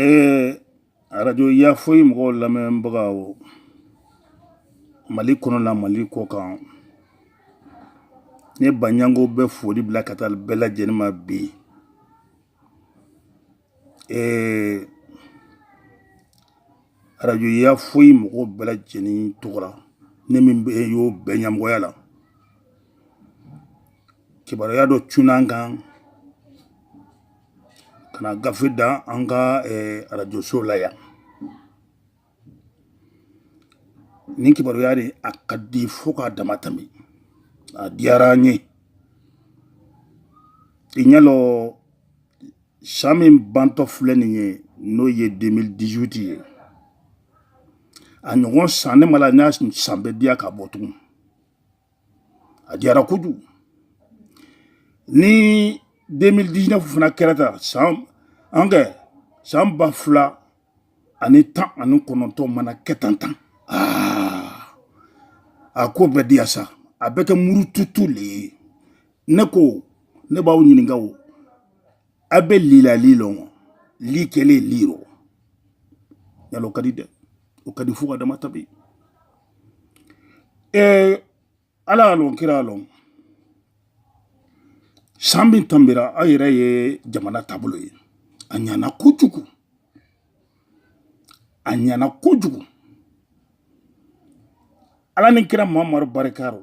Ee arajo ya foyi mɔgɔw lamɛnbaga mali kɔnɔ la mali kɔ kan ne baɲango bɛ foli bila ka taa bɛɛ lajɛlen ma bi ee arajo ya foyi mɔgɔw bɛɛ lajɛlen tɔgɔra ne min bɛ y'o bɛɛ ɲɛmɔgɔya la kibaruya dɔ cunna an kan ka na gafe da an ka eh, arajoso la yan nin kibaruya de a ka di fo k'a dama tanbi a diyara an ye i ɲɛ lɔ san min bantɔ filɛ nin ye n'o ye 2018 ye a ɲɔgɔn san ne ma la n'a san bɛ diya ka bɔ tugun a diyara kojugu ni 2019 fana kɛra tan san an kɛ san ba fila ani tan ani kɔnɔntɔn mana kɛ tan tan aa a ko bɛ diya sa a bɛ kɛ murututu le ye ne ko ne b'aw ɲininka o a bɛ li la li lɔn wa li kɛlen li rɔ yala o ka di dɛ o ka di fo ka dama tanbi ɛɛ ala y'a lɔn kira y'a lɔn san min tanbira aw yɛrɛ ye jamana taabolo ye a ɲana kojugu a ɲana kojugu ala ni kira mamadu barika rɔ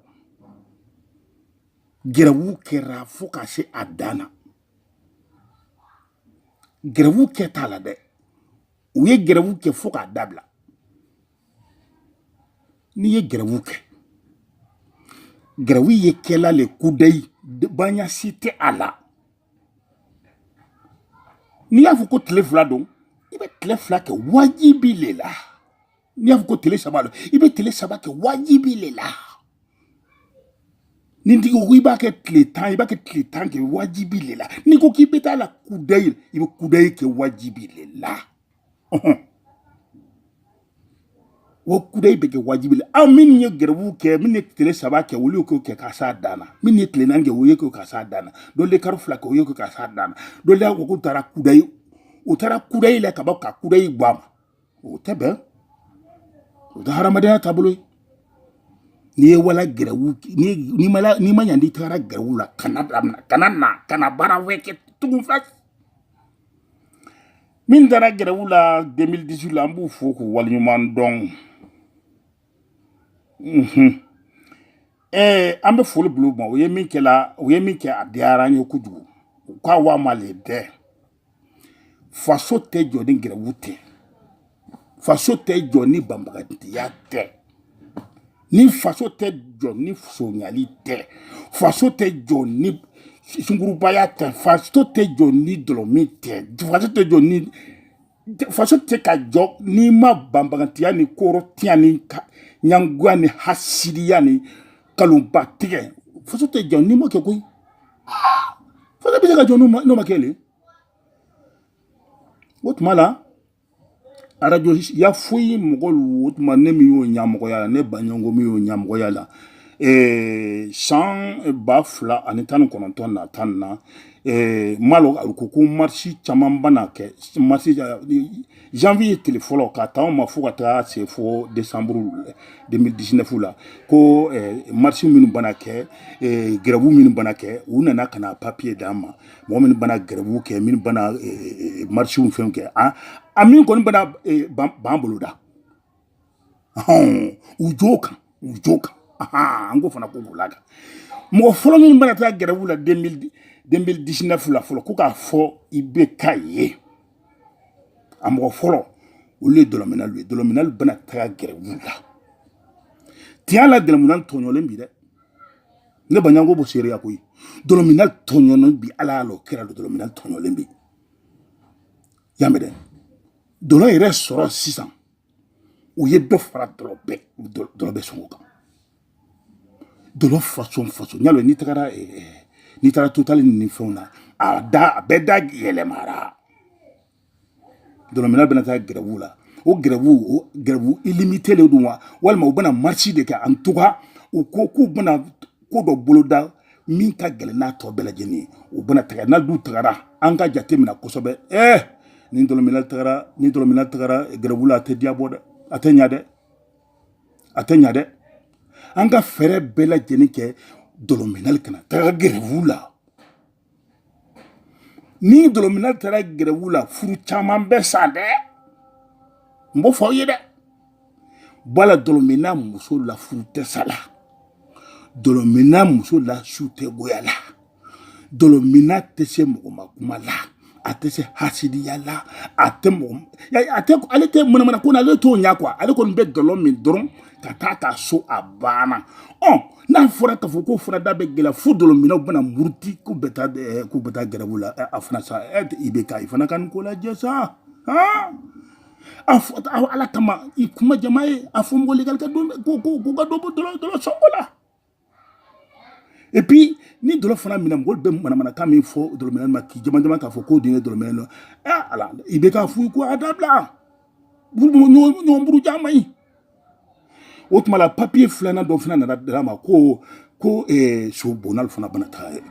gɛrɛwu kɛra fo ka se a dan na gɛrɛwu kɛ t'a la dɛ u ye gɛrɛwu kɛ fo k'a dabila n'i ye gɛrɛwu kɛ gɛrɛwu ye kɛla le kudayi baasi tɛ a la n'i y'a fɔ ko tile fila don i bɛ tile fila kɛ wajibi le la n'i y'a fɔ ko tile saba don i bɛ tile saba kɛ wajibi le la ni tigi ko i b'a kɛ tile tan i b'a kɛ tile tan kɛ wajibi le la n'i ko k'i bɛ taa la kudayi i bɛ kudayi kɛ wajibi le la. ɔhɔn wa kudayi bɛ kɛ wajibi la aw minnu ye gɛrɛwu kɛ minnu ye tile saba kɛ olu y'o kɛ ka s'a dan na minnu ye tile naani kɛ o y'o kɛ ka s'a dan na dɔ le karo fila kɛ o y'o kɛ ka s'a dan na dɔ le y'a fɔ k'u taara kudayi u taara kudayi la ka bɔ ka kudayi bɔ a ma o tɛ bɛn o tɛ hadamadenya taabolo ye n'i ye wala gɛrɛwu n'i ma ɲa n'i tagara gɛrɛwu la kana na kana baara wɛrɛ kɛ tugun fila min taara gɛrɛwu la 2018 la an b'u fo k'u waleɲuman dɔn ɛɛ an bɛ foli bila u ma u ye min kɛla u ye min kɛ a diyara an ye kojugu u k'a wa ma le dɛ faso tɛ jɔ ni gɛrɛwu tɛ faso tɛ jɔ ni banbagatiya tɛ ni faso tɛ jɔ ni sonyali tɛ faso tɛ jɔ ni sungurubaya tɛ faso tɛ jɔ ni dɔlɔmin tɛ faso tɛ jɔ ni faso tɛ ka jɔ n'i ma banbagatiya ni kɔrɔtiya ni ɲangoya ni hasidiya ni kalonba tigɛ faso tɛ jɔ n'i ma kɛ koyi faso bɛ se ka jɔ n'o ma kɛ le o tuma la arajo ya foyi mɔgɔlu o tuma ne min y'o ɲamɔgɔya la ne baɲango min y'o ɲamɔgɔya la eh, san ba fila ani tan ni kɔnɔntɔn na tan na eh, m'a lɔn a ko ko marisi caman bana kɛ marisi janvier tile fɔlɔ ka taa ma fo ka taa se fo décembre 2019 la ko eh, marisi minnu bana kɛ eh, gɛrɛbu minnu bana kɛ u nana ka na papiye d'an ma mɔgɔ minnu bana gɛrɛbuw kɛ minnu bana marisiw fɛnw kɛ a min kɔni bana b'an bolo da u jo kan u jo kan an ko fana ko b'u la kan mɔgɔ fɔlɔ minnu bana taa gɛrɛbuw la 2019 la fɔlɔ ko k'a fɔ i bɛ ka ye a mɔgɔ fɔlɔ olu ye dɔlɔminalu ye dɔlɔminalu bɛna taga gɛrɛbuw la tiɲɛ la dɔlɔminalu tɔɲɔlen bi dɛ ne baɲango b'o seereya koyi dɔlɔminalu tɔɲɔnen bi ala y'a lɔn kira y'a lɔn dɔlɔminalu tɔɲɔlen bi y'a mɛn dɛ dɔlɔ yɛrɛ sɔrɔ sisan u ye dɔ fara dɔlɔ bɛɛ dɔlɔ bɛɛ sɔngɔ kan dɔlɔ façon façon y'a lɔn n'i tagara eh, eh, n'i taara totali ni fɛnw na a da a bɛɛ da yɛlɛmara dɔlɔminalu bɛna taa gɛrɛbuw la o gɛrɛbuw o gɛrɛbu ilimite le don wa walima u bɛna marisi de kɛ en tout cas u ko k'u bɛna ko dɔ boloda min ka gɛlɛn n'a tɔ bɛɛ lajɛlen ye u bɛna taga n'alu tagara an ka jate minɛ kosɛbɛ ɛɛ ni dɔlɔminalu tagara ni dɔlɔminalu tagara gɛrɛbu la a tɛ diya bɔ dɛ a tɛ ɲa dɛ a tɛ ɲa dɛ an ka fɛɛrɛ bɛɛ lajɛlen kɛ dɔlɔminalu kana taga gɛrɛbu la ni dɔlɔmina taara gɛrɛwu la furu caman bɛ sa dɛ n b'o fɔ aw ye dɛ bala dɔlɔmina muso la furu tɛ sa la dɔlɔmina muso la su tɛ goya la dɔlɔmina tɛ se mɔgɔmakuma la a tɛ se hasidiya la a tɛ mɔgɔ a tɛ ale tɛ manamana ko na ale t'o ɲɛ quoi ale kɔni bɛ dɔlɔ min dɔrɔn ka taa ta so a banna ɔ n'a fɔra k'a fɔ ko fana da bɛ gɛlɛya fo dɔlɔminnaw bɛna muruti k'u bɛ taa eh, k'u bɛ taa gɛrɛbu la eh, a fana sa eh, ibeka i fana ka nin ko lajɛ sa han a fɔ ala kama i kuma jama ye a fɔ mɔgɔ legali ka don ko ko ko ka dɔ bɔ dɔlɔ dɔlɔ sɔngɔ la et puis ni dɔlɔ fana minna mɔgɔ bɛ manamanakan min fɔ dɔlɔminna ma k'i jama jama k'a fɔ k'o den ye dɔlɔminna dɔ ɛ ala ibeka a f'u ye ko a dabila ɲɔgɔn buruja man ɲi o tuma la papiye filanan dɔ fana nana di an ma ko ko eh, so bonal fana bana taa eh,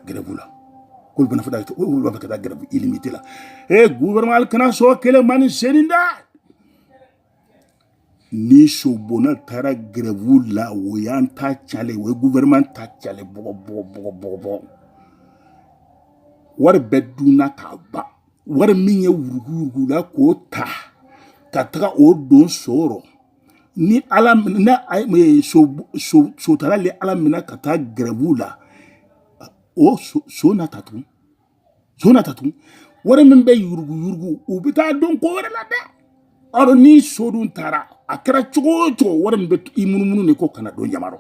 gɛrɛbu la k'olu bana fana olu b'a fɛ ka taa gɛrɛbu ilimite la e guvɛrɛnman kana sɔn kelen ma ni senin da ni so bonal taara gɛrɛbu la o y'an ta calen o ye guvɛrɛnman ta calen bawo wari bɛɛ dunna k'a ban wari min yuruguyurugula k'o ta ka taga o don so rɔ ni ala na sotala le ala minɛ ka taa gɛrɛbu la o so na ta tugun so na ta tugun wari min bɛ yuruguyurugu u bɛ taa don ko wɛrɛ la dɛ ɔrɔ ni so dun taara a kɛra cogo o cogo wari min bɛ i munumunu de ko kana don jama rɔ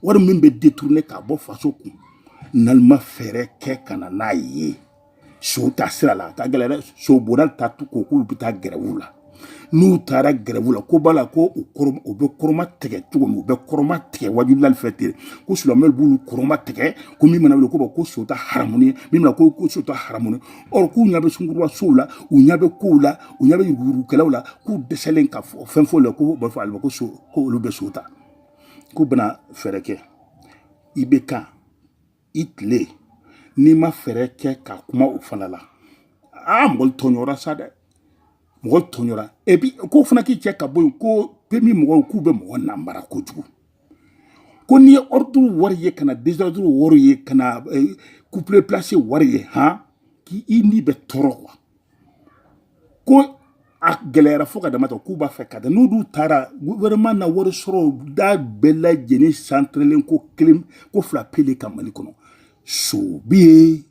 wari min bɛ detourne k'a bɔ faso kun n'alu ma fɛɛrɛ kɛ ka na n'a ye so ta sira la a ka gɛlɛ dɛ so bonal ta tu ko k'olu bɛ taa gɛrɛbu la n'u taara gɛrɛbu la ko b'a la ko u kɔrɔ u bɛ kɔrɔma tigɛ cogo min u bɛ kɔrɔma tigɛ wajulilalu fɛ ten ko silamɛw b'olu kɔrɔma tigɛ ko min mana wuli ko bɔ ko so ta haramu ye min mana ko ko so ta haramu ye ɔrɔ k'u ɲɛ bɛ sungurunba sow la u ɲɛ bɛ kow la u ɲɛ bɛ yuruguyurugukɛlaw la k'u dɛsɛlen ka fɔ fɛn fɔ la ko b'a fɔ ale ma ko so ko olu bɛ so ta k'u bɛna fɛɛrɛ kɛ ibeka i tile n'i ma fɛɛrɛ kɛ ka kuma o fana la aa mɔgɔlu tɔɲɔra sa dɛ mɔgɔlu tɔɲɔra epi k'o fana k'i cɛ ka bɔ yen ko pemu mɔgɔw k'u bɛ mɔgɔ namara kojugu ko n'i ye ordre wari ye ka na désordre wari ye ka na couplé eh, placé wari ye han k'i i ni bɛ tɔɔrɔ kuwa ko a gɛlɛyara fo ka damatɛmɛ k'u b'a fɛ ka taa n'u dun taara gouvernement na wari sɔrɔ da bɛɛ lajɛlen santrelen ko kelen ko fila pe le kan mali kɔnɔ so bɛ yen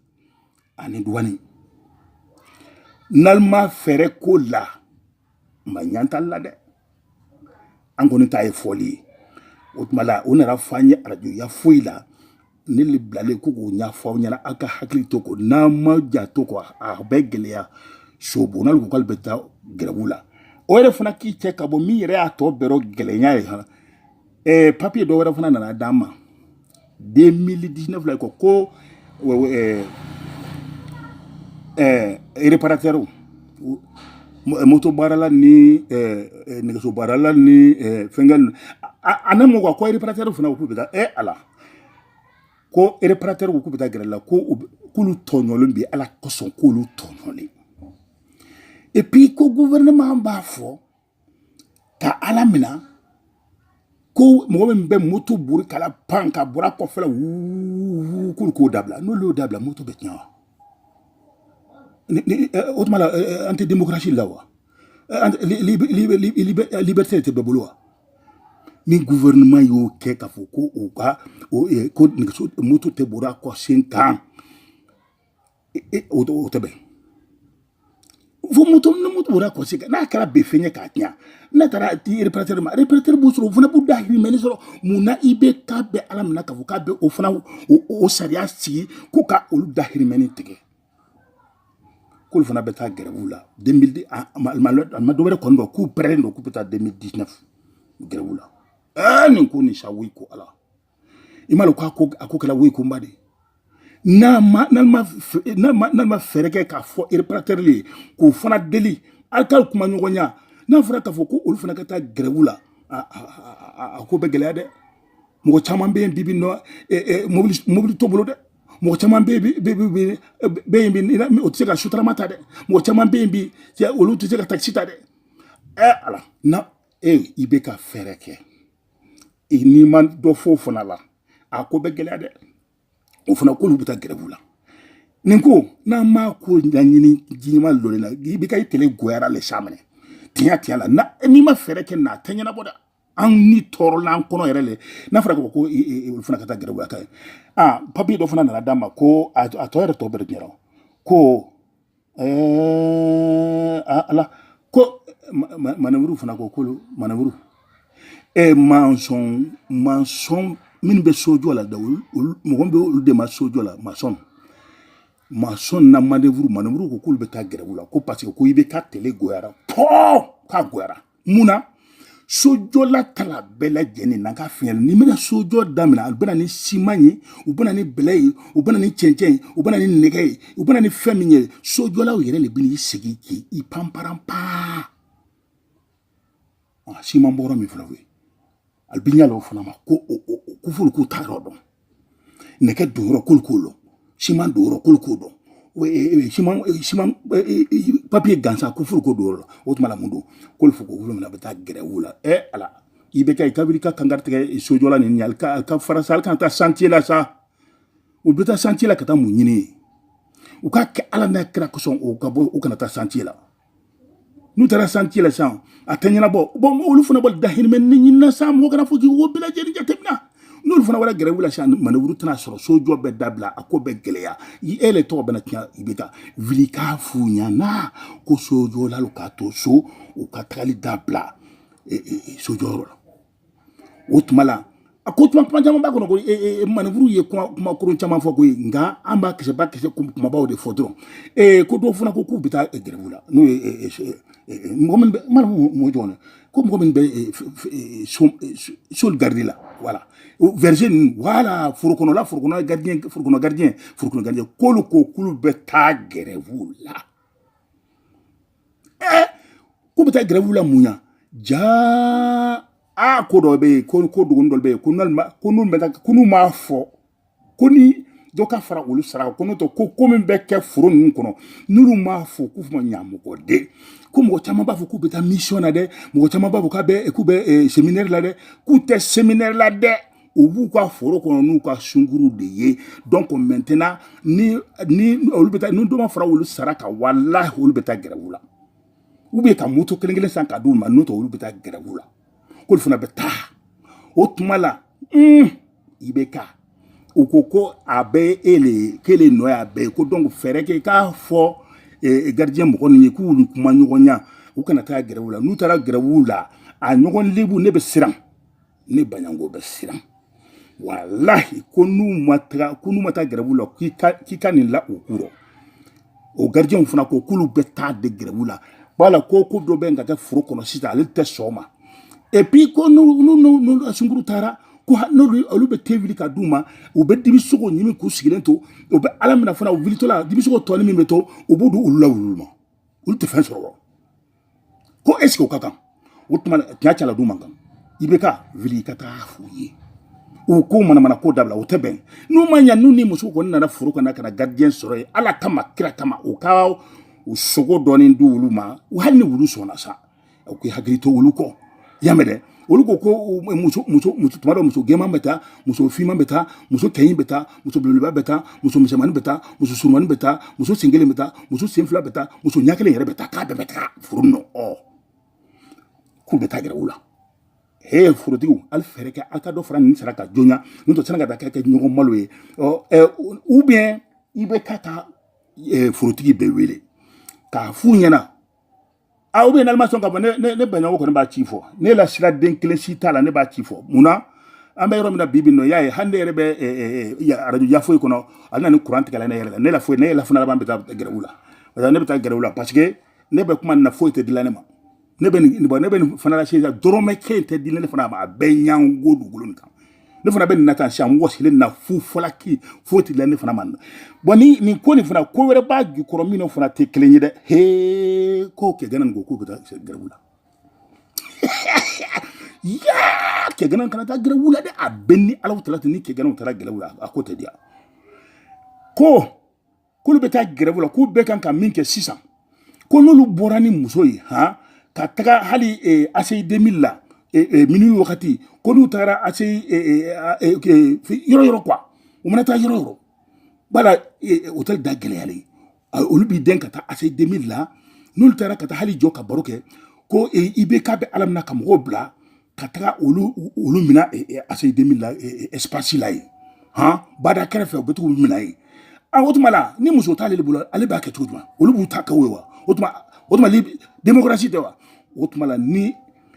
ani duwani n'alu ma fɛɛrɛ k'o la ma ɲantali la dɛ an kɔni ta ye fɔli ye o tuma la u nana fɔ an ye arajoya foyi la ne le bilalen ko k'o ɲɛfɔ aw ɲɛna aw ka hakili to ko n'an ma janto ko a bɛ gɛlɛya so bonal ko k'alu bɛ taa gɛrɛbu la o yɛrɛ fana k'i cɛ ka bɔ min yɛrɛ y'a tɔ bɛɛ rɔ gɛlɛya ye han ɛɛ papiye dɔ wɛrɛ fana nana d'an ma demili disinɛfu la kɔ ko ɛɛ ɛɛ ereparatɛriw moto baarala ni ɛɛ nɛgɛso baarala ni ɛɛ fɛnkɛ ninnu a ne m'o ka ko ereparatɛriw fana k'u bɛ taa ɛ ala ko ereparatɛriw k'u bɛ taa gɛrɛwu la ko k'olu tɔɲɔlen bɛ ala kosɔn k'olu tɔɲɔlen epi ko guvɛrɛnɛman b'a fɔ ka a lamina ko mɔgɔ min bɛ moto bori k'a lapan k'a bori a kɔfɛla wuu k'olu k'o dabila n'olu y'o dabila moto bɛ tiɲɛ wa o tuma la an tɛ demokarasi la wa liberté tɛ bɛɛ bolo wa ni gouvernement y'o kɛ k'a fɔ ko u ka ko nɛgɛso moto tɛ bori a kɔsen kan o o tɛ bɛn fo moto ni moto bori a kɔsen kan n'a kɛra bɛ fɛn ye k'a tiɲɛ n'a taara di ereparatɛri ma ereparatɛri b'o sɔrɔ o fana b'u dahirimɛnin sɔrɔ mun na IBK bɛn'a laminɛ k'a fɔ k'a bɛ o fana o sariya sigi ko ka olu dahirimɛnin tigɛ k'olu fana bɛ taa gɛrɛwu la demilidi a ma dɔ wɛrɛ kɔni dɔn k'u parɛlen don k'u bɛ taa demili disinɛfu gɛrɛwu la ɛɛ nin ko nin sa woyi ko ala i m'a lɔn k'a ko a ko kɛla woyi kunba de ye n'a ma fɛɛrɛ kɛ k'a fɔ ereparatɛri ye k'o fana deli alu ka kuma ɲɔgɔnya n'a fɔra k'a fɔ ko olu fana ka taa gɛrɛwu la a ko bɛ gɛlɛya dɛ mɔgɔ caman bɛ yen bi bi nɔ mobili mobili t'o bolo dɛ mɔgɔ caman bɛ yen bɛ yen bi o tɛ se ka sotarama ta dɛ mɔgɔ caman bɛ yen bi olu tɛ se ka takisi ta dɛ ɛ ala na e IBK fɛɛrɛ kɛ n'i ma dɔ fɔ o fana la a ko bɛ gɛlɛya dɛ o fana k'olu bɛ taa gɛrɛwu la nin ko n'an m'a ko ɲɛɲini jiɲɛma lɔri la IBK i tele goyara le sa minɛ tiɲɛ tiɲɛ la n'i ma fɛɛrɛ kɛ na a tɛ ɲɛnabɔ dɛ an ni tɔɔrɔla an kɔnɔ yɛrɛ le n'a fɔra ko ko olu fana ka taa gɛrɛwu la ka ye aa papiye dɔ fana nana d'an ma ko a tɔ yɛrɛ tɔ bɛɛ de ɲɛna ko ɛɛ ala ko manɛvuru fana ko k'olu manɛvuru ɛ mansɔn mansɔn minnu bɛ sojɔ la da mɔgɔ bɛ olu de ma sojɔla masɔn masɔn n'a manɛvuru manɛvuru ko k'olu bɛ taa gɛrɛwu la ko parce que ko IBK tele goyara pɔɔ k'a goyara mun na sojɔla tala bɛɛ lajɛlen na ka fiɲɛ n'i bɛna sojɔ damina alu bɛ na ni siman ye u bɛ na ni bɛlɛ ye u bɛ na ni cɛncɛn ye u bɛ na ni nɛgɛ ye u bɛ na ni fɛn min ye sojɔlaw yɛrɛ le bɛna i segin k'i i panparan paa siman bɔrɔ min fana bɛ yen alu bɛ ɲa lɔ o fana ma ko ko f'olu k'u ta yɔrɔ dɔn nɛgɛ don yɔrɔ k'olu k'o dɔn siman don yɔrɔ k'olu k'o dɔn siman siman papiye gansan ko furu ko don yɔrɔ la o tuma la mun don k'olu fo ko olu fana bɛ taa gɛrɛwu la ɛ ala IBK i ka wuli ka kankari tigɛ sojɔla nin ɲali ka ka fara sa hali kana taa santiye la sa u bɛ taa santiye la ka taa mun ɲini u k'a kɛ ala n'a kira kosɔn u ka bɔ u kana taa santiye la n'u taara santiye la sisan a tɛ ɲɛnabɔ bɔn olu fana b'olu dahirimɛnin ɲinina sa mɔgɔ kana fɔ k'i b'o bɛɛ lajɛlen jateminɛ n'olu fana wara gɛrɛwu la sisan manɛwuru tɛna sɔrɔ sojɔ bɛ dabila a ko bɛ gɛlɛya e le tɔgɔ bɛna tiɲɛ IBK wuli k'a f'u ɲɛna ko sojɔlalu k'a to so u ka tagali dabila sojɔyɔrɔ la o tuma la a ko kuma kuma caman b'a kɔnɔ ko manɛwuru ye kuma kuma kolon caman fɔ ko ye nka an b'a kisɛ b'a kisɛ kumabaw de fɔ dɔrɔn ee ko dɔw fana ko k'u bɛ taa gɛrɛwu la n'o ye mɔgɔ min bɛ mana mɔ jɔn ko mɔgɔ min bɛ solu garidi la wala verger ninnu wala forokɔnɔla forokɔnɔ gardien forokɔnɔ gardien forokɔnɔ gardien k'olu ko k'olu bɛ taa gɛrɛwu la ɛɛ k'u bɛ taa gɛrɛwu la mun ya jaa aa ko dɔ bɛ yen ko ko dogoni dɔ bɛ yen ko n'olu ko n'u bɛ ko n'u m'a fɔ ko ni dɔ ka fara olu sara ko n'o tɛ ko ko min bɛ kɛ foro ninnu kɔnɔ n'olu m'a fɔ ko f'u ma ɲamɔgɔden ko mɔgɔ caman b'a fɔ k'u bɛ taa mission na dɛ mɔgɔ caman b'a fɔ k'a bɛ k'u bɛ séminaire la dɛ k'u tɛ séminaire la dɛ u b'u ka foro kɔnɔ n'u ka sunkuruw de ye donc maintenant ni ni olu bɛ taa ni dɔ ma fara olu sara kan walahi olu bɛ taa gɛrɛwu la ou bien ka moto kelen kelen san ka d'u ma n'o tɛ olu bɛ taa gɛrɛwu la k'olu fana bɛ taa o tuma la un IBK u ko ko a bɛ e le ye k'e le nɔ y'a bɛɛ ye ko donc fɛɛrɛ kɛ k'a fɔ eh, gardien mɔgɔ ninnu ye k'u kumaɲɔgɔnya u kana taa gɛrɛwu la n'u taara gɛrɛwu la a ɲɔgɔn lebu ne bɛ siran ne baɲango bɛ siran walahi ko n'u ma taga ko n'u ma taa gɛrɛwu la k'i ka k'i ka nin la u kɔrɔ o garijɛw fana ko k'olu bɛ taa de gɛrɛwu la wala ko ko dɔ bɛ ka kɛ foro kɔnɔ sisan ale tɛ sɔn a ma et puis ko n'u n'u n'u sunkuru taara ko n'olu olu bɛ te wuli ka d'u ma u bɛ dibisogo ɲimi k'u sigilen to u bɛ a lamin fana u wulitɔla dibisogo tɔni min bɛ to u b'o di olu la wulu ma olu tɛ fɛn sɔrɔ wa ko eseke o ka kan o tuma tiɲɛ cɛla du man kan IBK wuli i ka taa f'u ye u ko manamana ko dabila o tɛ bɛn n'u ma ɲa n'u ni muso kɔni nana foro kɔnɔ ka na garijɛn sɔrɔ yen ala kama kira kama u ka u sogo dɔɔni di olu ma hali ni wulu sɔnna sa u k'i hakili to olu kɔ y'a mɛn dɛ olu ko ko muso muso muso tuma dɔ muso gɛnman bɛ taa muso finman bɛ taa muso kɛɲin bɛ taa muso belebeleba bɛ taa muso misɛnmanin bɛ taa muso surumani bɛ taa muso sen kelen bɛ taa muso sen fila bɛ taa muso ɲɛ kelen yɛrɛ bɛ taa k'a bɛɛ bɛ taa furu nɔ ɔ k'u bɛ taa gɛrɛwu la he furutigiw hali fɛɛrɛ kɛ aw ka dɔ fara nin sara kan joona n'o tɛ sani ka taa kɛ ɲɔgɔn malo ye ɔ ɛ ou bien IBK taa furutigi bɛɛ wele k'a f'u ɲɛna a ou bien alu ma sɔn ka bɔ ne ne baɲɔgɔn kɔni b'a ci fɔ ne la sira den kelen si t'a la ne b'a ci fɔ mun na an bɛ yɔrɔ min na bi bi nɔ y'a ye hali ne yɛrɛ bɛ arajo yan foyi kɔnɔ a bɛna ni kuran tigɛla ne yɛrɛ la ne la foyi ne yɛrɛ la fana laban bɛ taa gɛrɛw la parce que ne bɛ taa gɛrɛw la parce que ne bɛ kuma nin na foyi tɛ di la ne ma ne bɛ nin bɔ ne bɛ nin fana la sisan dɔrɔmɛ kelen tɛ di la ne fana ma a bɛɛ ɲango dugukolo nin kan ne fana bɛ nin na tan sisan n wɔsilen na fu falaki foyi tɛ di la ne fana ma na bon ni nin ko nin fana ko wɛrɛ b'a jukɔrɔ min fana tɛ kelen ye dɛ hee ko kɛganan nin ko k'u bɛ taa gɛrɛbu la yaa kɛganan kana taa gɛrɛbu la dɛ a bɛɛ ni alawutaala tɛ ni kɛgananw taara gɛrɛbu la a ko tɛ diya ko k'olu bɛ taa gɛrɛbu la k'u bɛɛ kan ka min kɛ sisan ko n'olu bɔra ni muso ye han ka taga hali eh, ACI deux mille la eh, eh, minuit wagati ko n'u tagara ACI yɔrɔ yɔrɔ quoi u mana taa yɔrɔ yɔrɔ bala hôtel da gɛlɛyalen olu b'i den ka taa ACI deux mille la n'olu taara ka taa hali jɔ ka baro kɛ ko IBK bɛ ala min na ka mɔgɔw bila ka taga olu olu mina ACI deux mille la espace la yen han bada kɛrɛfɛ u bɛ to k'u mina yen a o tuma la ni muso t'ale de bolo ale b'a kɛ cogo jumɛn olu b'u ta kɛ o ye wa o tuma o tuma demokarasi tɛ wa o tuma la ni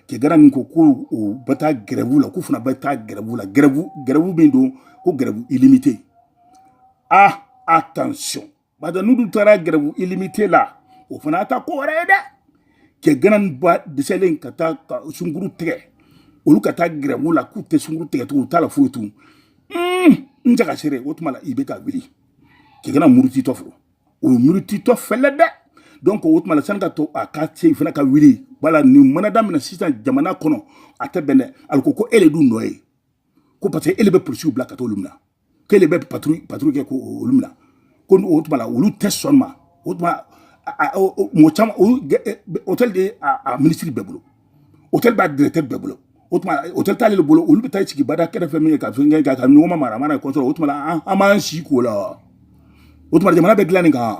kɛganan nin ko ko u bɛ taa gɛrɛbu la k'u fana bɛ taa gɛrɛbu la gɛrɛbu gɛrɛbu min don ko gɛrɛbu illimité ah attention bata n'u dun taara gɛrɛbu illimité la o fana ta ko wɛrɛ ye dɛ cɛ ganan ba dɛsɛlen ka taa ka sungurun tigɛ olu ka taa gɛrɛbu la k'u tɛ sungurun tigɛ tugun u t'a la foyi tun n jaga sere o tuma la IBK wuli cɛ ganan murutitɔ fo o ye murutitɔ fɛlɛ dɛ donc o tuma la sani ka to a ka se fana ka wuli wala nin mana daminɛ sisan jamana kɔnɔ a tɛ bɛn dɛ alu ko ko e le dun nɔ ye ko parce que e le bɛ polisiw bila ka t'olu minɛ k'ele bɛ patrouille patrouille kɛ ko olu minɛ ko o tuma la olu tɛ sɔn ma o tuma mɔgɔ caman hôtel b'a minisiri bɛɛ bolo hôtel b'a directeur bɛɛ bolo o tuma hôtel t'ale de bolo olu bɛ taa sigi bada kɛrɛfɛ min ye ka fɛn kɛ ka ɲɔgɔn ma mara a mana kɔsɔrɔ o tuma la an b'an si k'o la wa o tuma jamana bɛ dilan nin kan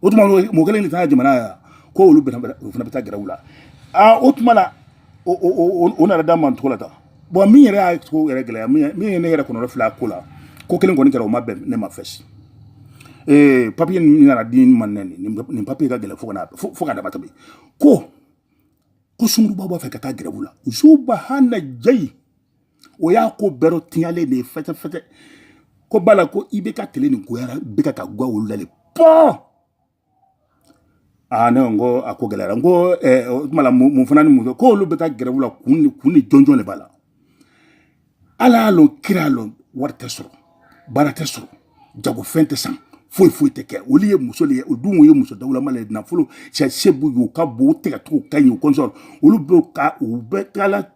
o tuma mɔgɔ kelen de ta jamana yan ko olu o fana bɛ taa grève la aa o tuma la o nana da man cogo la tan bon min yɛrɛ y'a cogo yɛrɛ gɛlɛya min ye ne yɛrɛ kɔnɔ fila ko la ko kelen kɔni kɛra o ma bɛn ne ma fɛsi ee papier nin nana di n ma nɛ nin papier ka gɛlɛn fo kana fo ka dama tɛmɛ ko ko sunguruba b'a fɛ ka taa grève la subahana jayi o y'a ko bɛɛ dɔ tiɲalen de ye fɛtɛfɛtɛ k'u b'a la ko IBK tile nin goyara bɛɛ kan ka goya olu la de pɔɔ aa ne ko n ko a ko gɛlɛyara n ko eh, o tuma la mun mun fana ni mun fɛ k'olu bɛ taa grève la kun ni kun ni jɔnjɔn de b'a la ala y'a lɔn kira y'a lɔn wari tɛ sɔrɔ baara tɛ sɔrɔ jagofɛn tɛ san foyi foyi tɛ kɛ olu ye muso de ye o dun ye muso dawulama le ye nafolo sɛ se b'u ye u ka bon u tɛgɛcogo ka ɲi u kɔnsɔn olu bɛ ka u bɛ taala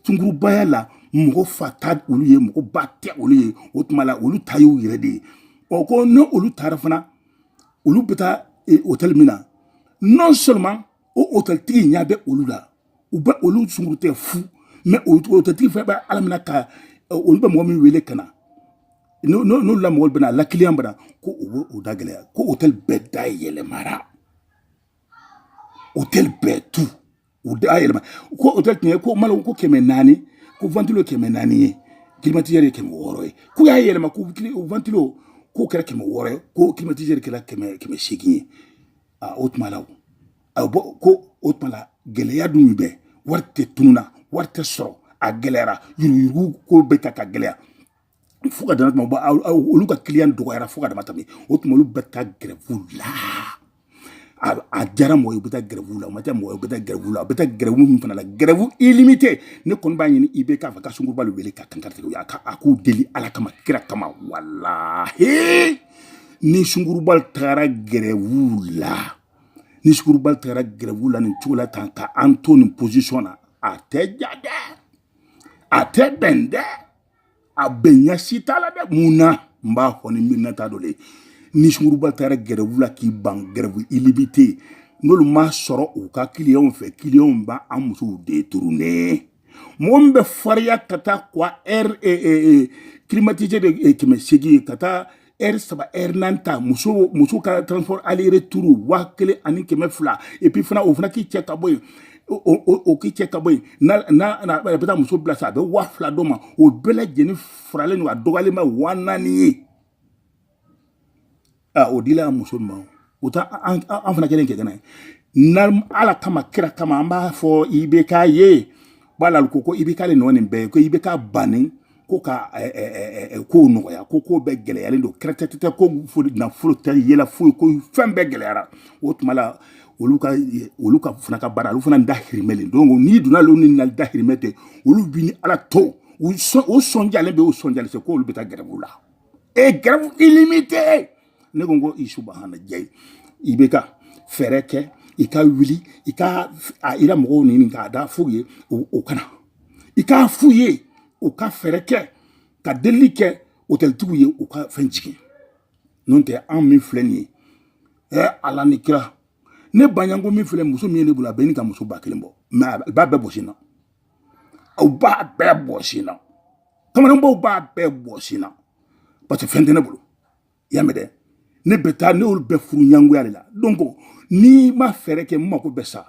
sungurubaya la mɔgɔ fa tɛ olu ye mɔgɔ ba tɛ olu ye o tuma la olu ta y'u yɛrɛ de ye ɔ ko n'olu taara fana olu bɛ taa hôtel min na non seulement o hôtel tigi ɲɛ bɛ olu la u bɛ olu sunguru tɛ fu mais hôtel tigi fana bɛ ala minɛ ka olu bɛ mɔgɔ min wele ka na n'olu la mɔgɔw bɛna la client bɛna ko u bɛ u da gɛlɛya ko hôtel bɛɛ da yɛlɛmara hôtel bɛɛ tout u da yɛlɛma ko hôtel tun ye ko malo ko kɛmɛ naani ko ventilo kɛmɛ naani ye climatiseur ye kɛmɛ wɔɔrɔ ye k'u y'a yɛlɛma ko ventilo k'o kɛra kɛmɛ wɔɔrɔ ye ko climatiseur kɛra kɛmɛ kɛmɛ seegin ye a o tuma la o a bɔ ko o tuma la gɛlɛya dun bɛ wari de tununna wari tɛ sɔrɔ a gɛlɛyara yuruguyurugu ko bɛ taa ka gɛlɛya fo ka dama tɛmɛ olu ka client dɔgɔyara fo ka dama tɛmɛ o tuma olu bɛ taa grève la a diyara mɔgɔ ye u bɛ taa grève la o ma diya mɔgɔ ye u bɛ taa grève la u bɛ taa grève min fana la grève illimité ne kɔni b'a ɲini IBK fɛ ka sunguruba de wele ka kankaritigi u y'a ka a k'u deli ala kama kira kama walahi ni sunguruba tagara grève la ni sunguruba tagara grève la nin cogo la tan ka an to nin position na a tɛ diya dɛ a tɛ bɛn dɛ a bɛn ɲa si t'a la dɛ mun na n b'a fɔ ni miirina t'a dɔ le ni sunguruba taara grève la k'i ban grève illimité n'olu ma sɔrɔ u ka clients fɛ clients bɛ an musow détourner mɔgɔ min bɛ fariya ka taa quoi heure e, e, e, climatisé de kɛmɛ seegin ka taa heure saba heure naani ta muso muso ka transport aller retour waa kelen ani kɛmɛ fila et puis fana o fana k'i cɛ ka bɔ yen o k'i cɛ ka bɔ yen n'a n'a a bɛ taa muso bila sa a bɛ waa fila d'o ma o bɛɛ lajɛlen faralen don a dɔgɔyalen ma waa naani ye aa o dila a muso ma o u ta an fana kelen kɛ kɛnɛ na ala kama kira kama an b'a fɔ IBK ye b'a la ko ko IBK le nɔ nin bɛɛ ye ko IBK bannen ko ka kow nɔgɔya ko ko bɛɛ gɛlɛyalen don kɛrɛtɛtɛ ko nafolo tɛ yɛlɛ foyi ko fɛn bɛɛ gɛlɛyara o tuma la olu ka olu ka fana ka baara olu fana dahirimɛ le donc n'i donna olu ni na dahirimɛ tɛ olu b'i ni ala to o sɔnjalen bɛ o sɔnjalen tɛ ko olu bɛ taa grève la e grève illimité ne ko n ko i subahana jayi IBK fɛɛrɛ kɛ i ka wuli i ka a ira mɔgɔw ɲini k'a da f'u ye o kana i k'a f'u ye u ka fɛɛrɛ kɛ ka delili kɛ otɛlitigiw ye u ka fɛn jigin n'o tɛ anw min filɛ nin ye ɛ ala ni kira ne baɲanko min filɛ muso min ye ne bolo a bɛ ni ka muso ba kelen bɔ mais a b'a bɛɛ bɔsi n na aw b'a bɛɛ bɔsi n na kamalenbaw b'a bɛɛ bɔsi n na parce que fɛn tɛ ne bolo y'a mɛn dɛ ne bɛ taa ne y'olu bɛɛ furu ɲangoya de la donc n'i ma fɛɛrɛ kɛ n mako bɛ sa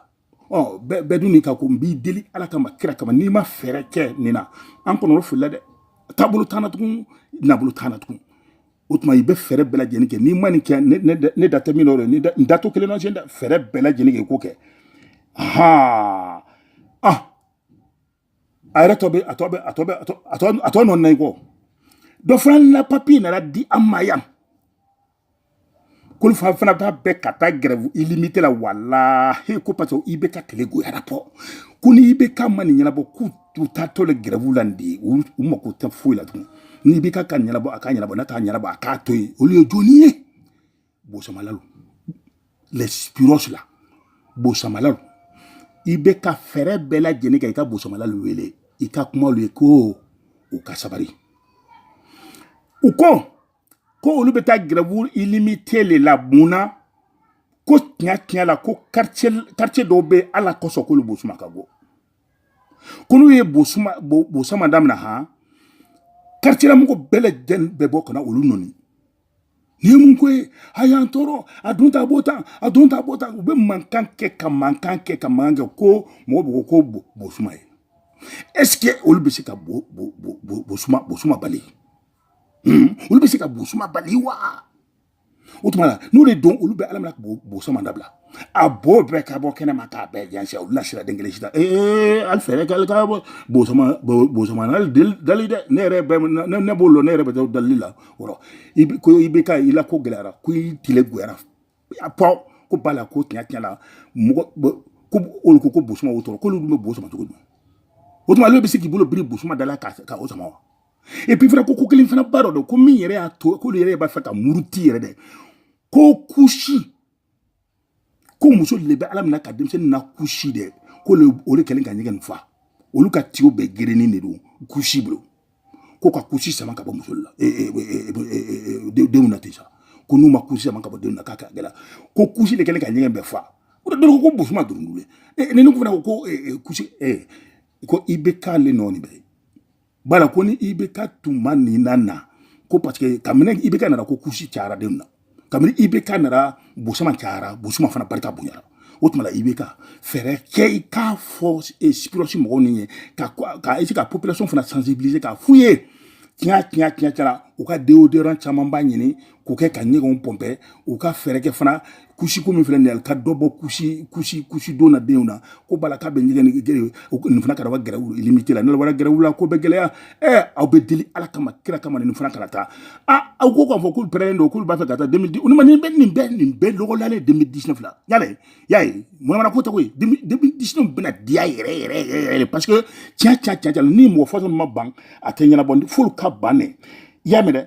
ɔ bɛɛ dun n'i ka ko n b'i deli ala kama kira kama n'i ma fɛɛrɛ kɛ nin na an kɔnɔrɔfilila dɛ taabolo t'an na tugun nabolo t'an na tugun o tuma i bɛ fɛɛrɛ bɛɛ lajɛlen kɛ n'i ma nin kɛ ne da tɛ min dɔ dɛ n da to kelen na tiɲɛ dɛ fɛɛrɛ bɛɛ lajɛlen kɛ i k'o kɛ haa ah a yɛrɛ tɔ bɛ a tɔ bɛ a tɔ bɛ a tɔ a tɔ a tɔ nɔ na i kɔ dɔ fana na papiye nana di an ma yan k'olu fana fana b'a fɛ ka taa grève illimité la walahi ko parce que IBK tile goyara pɔ ko ni IBK ma nin ɲɛnabɔ k'u u taatɔ le grève la nin de ye u mako tɛ foyi la tugun ni IBK k'a ɲɛnabɔ a k'a ɲɛnabɔ n'a t'a ɲɛnabɔ a k'a to yen olu ye jɔni ye bosamalalu les spiros la bosamalalu IBK fɛɛrɛ bɛɛ lajɛlen kɛ i ka bosamalalu wele i ka kuma olu ye ko u ka sabari u ko ko olu bɛ taa grève illimité le la mun na ko tiɲɛ tiɲɛ la ko quartier dɔw bɛ ala kosɔn k'olu bosuma ka bɔ ko n'u ye bosuma bosama damina han quartier la mɔgɔ bɛɛ lajɛlen bɛ bɔ ka na olu nɔni nin ye mun ko ye a y'an tɔɔrɔ a dun t'a bɔ tan a dun t'a bɔ tan u bɛ mankan kɛ ka mankan kɛ ka mankan kɛ ko mɔgɔ bɛ ko ko bosuma ye est ce que olu bɛ se ka bo bo bo bo bosuma bosuma bali hmm? olu bɛ se ka bosuma bali wa o tuma na n'o de don olu bɛ ala minɛ ka bosama dabila a bo bɛɛ ka bɔ kɛnɛ ma k'a bɛɛ jɛnsɛn olu la sira den kelen sida ee ali fɛɛrɛ k'ale ka bɔ bosama bosama n'ale dali dɛ ne yɛrɛ bɛ ne ne b'o lɔn ne yɛrɛ bɛ taa dali la wɔrɔ i bɛ ko IBK i la ko gɛlɛyara ko i tile goyara a fɔ ko bala ko tiɲɛ tiɲɛ la mɔgɔ ko olu ko ko bosuma o tɔɔrɔ k'olu dun bɛ bo sama cogo di o tuma ale bɛ se k'i bolo biri bosuma da la ka ka o sama wa et puis fana ko ko kelen fana ba dɔ don ko min yɛrɛ y'a to k'olu yɛrɛ b'a fɛ ka muruti yɛrɛ dɛ ko kusi ko musow de bɛ ala minɛ ka denmisɛnnin na kusi dɛ ko o de kɛlen ka ɲɛgɛn nin fa olu ka tiyo bɛɛ gerenin de don kusi bolo ko ka kusi sama ka bɔ musow la denw na ten sa ko n'u ma kusi sama ka bɔ denw na k'a ka gɛlɛn ko kusi de kɛlen ka ɲɛgɛn bɛɛ fa o de dɔrɔn ko bosuma dɔrɔn wele ni ne fana ko ko kusi ko IBK le nɔ nin bɛɛ ye bala ko ni IBK tuma nin na na ko parce que kabini IBK nana ko kusi cayara denw na kabini IBK nana bosama cayara bosuma fana barika bonyara o tuma la IBK fɛɛrɛ kɛ i k'a fɔ sipirɔsi mɔgɔw nin ye ka ka essayer ka population fana sensibiliser k'a f'u ye tiɲɛ tiɲɛ tiɲɛ tiɲɛ u ka deodorant camanba ɲini k'o kɛ ka ɲɛgɛnw pɔnpɛ u ka fɛɛrɛ kɛ fana kusiko min filɛ nin ye ka dɔ bɔ kusi kusi kusi don na denw na ko bala k'a bɛ ɲɛgɛn nin fana kana grève illimitée la n'u wara grève la ko bɛ gɛlɛya ɛɛ aw bɛ deli ala kama kira kama nin fana kana taa aa aw ko k'a fɔ k'u pɛrɛnnen don k'olu b'a fɛ ka taa deux mille dix olu ma nin bɛ nin bɛɛ nin bɛɛ lɔgɔlalen deux mille dix-neuf la yala y'a ye manamana ko tɛ ko ye deux mille dix-neuf bɛna diya yɛrɛ yɛrɛ yɛrɛ yɛrɛ parce que tiɲɛ tiɲɛ tiɲɛ ni mɔgɔ fɔsɔn ma ban a tɛ ɲɛnabɔ f'olu ka ban ne y'a mɛn dɛ